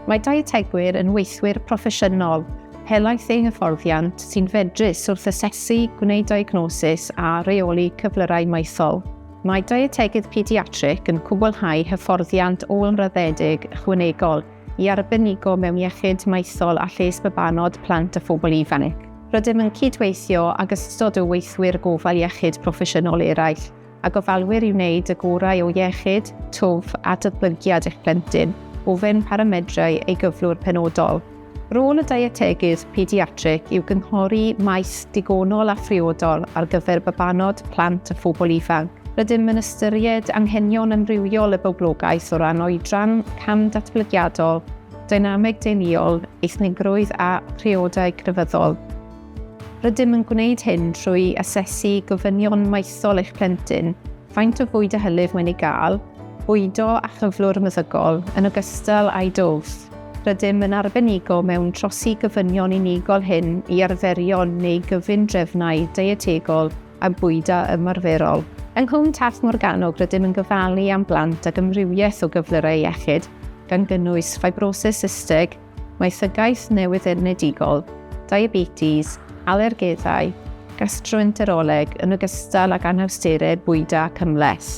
Mae dietegwyr yn weithwyr proffesiynol helaeth eu hyfforddiant sy'n fedrus wrth asesu, gwneud diagnosis a reoli cyflyrau maethol. Mae dietegydd pediatric yn cwblhau hyfforddiant ôl-raddedig ychwanegol i arbenigo mewn iechyd maethol a lles babanod, plant a phobl ifanc. Rydym yn cydweithio ag ystod o weithwyr gofal iechyd proffesiynol eraill a gofalwyr i wneud y gorau o iechyd, twf a datblygiad eich plentyn, ofyn pa ramedrau ei gyflwr penodol. Rôl y dietegydd pediatrig yw gynghori maes digonol a phriodol ar gyfer babanod, plant a phobl ifanc. Rydym yn ystyried anghenion amrywiol y boblogaeth o ran oedran, cam datblygiadol, dynameg deuluol, eithnigrwydd a phriodau crefyddol. Rydym yn gwneud hyn trwy asesu gofynion maethol eich plentyn, faint o fwyd a hylif mae'n ei gael, bwydo a chyflwr meddygol, yn ogystal â'i dwf. Rydym yn arbenigo mewn trosi gofynion unigol hŷn i arferion neu gyfundrefnau deietegol a bwyda ymarferol. Yng Nghwm Taf Morgannwg rydym yn gofalu am blant ag amrywiaeth o gyflyrau iechyd, gan gynnwys ffibrosis systig, Mae llygais newyddenedigol, diabetes, alergeddau, gastroenteroleg yn ogystal ag anhawsterau bwyda ac ymhleth.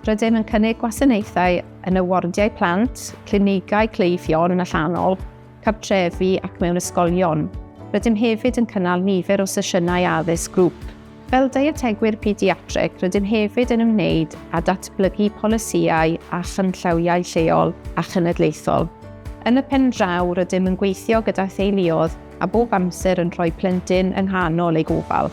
Rydym yn cynnig gwasanaethau yn y wardiau plant, clinigau cleifion yn allanol, cartrefi ac mewn ysgolion. Rydym hefyd yn cynnal nifer o sesiynau addysg grŵp. Fel dietegwyr pediatreg, rydym hefyd yn ymwneud â datblygu polisïau a chynllawiau lleol a chenedlaethol. Yn y pen draw, rydym yn gweithio gyda theuluoedd a bob amser yn rhoi plentyn yng nghanol eu gofal.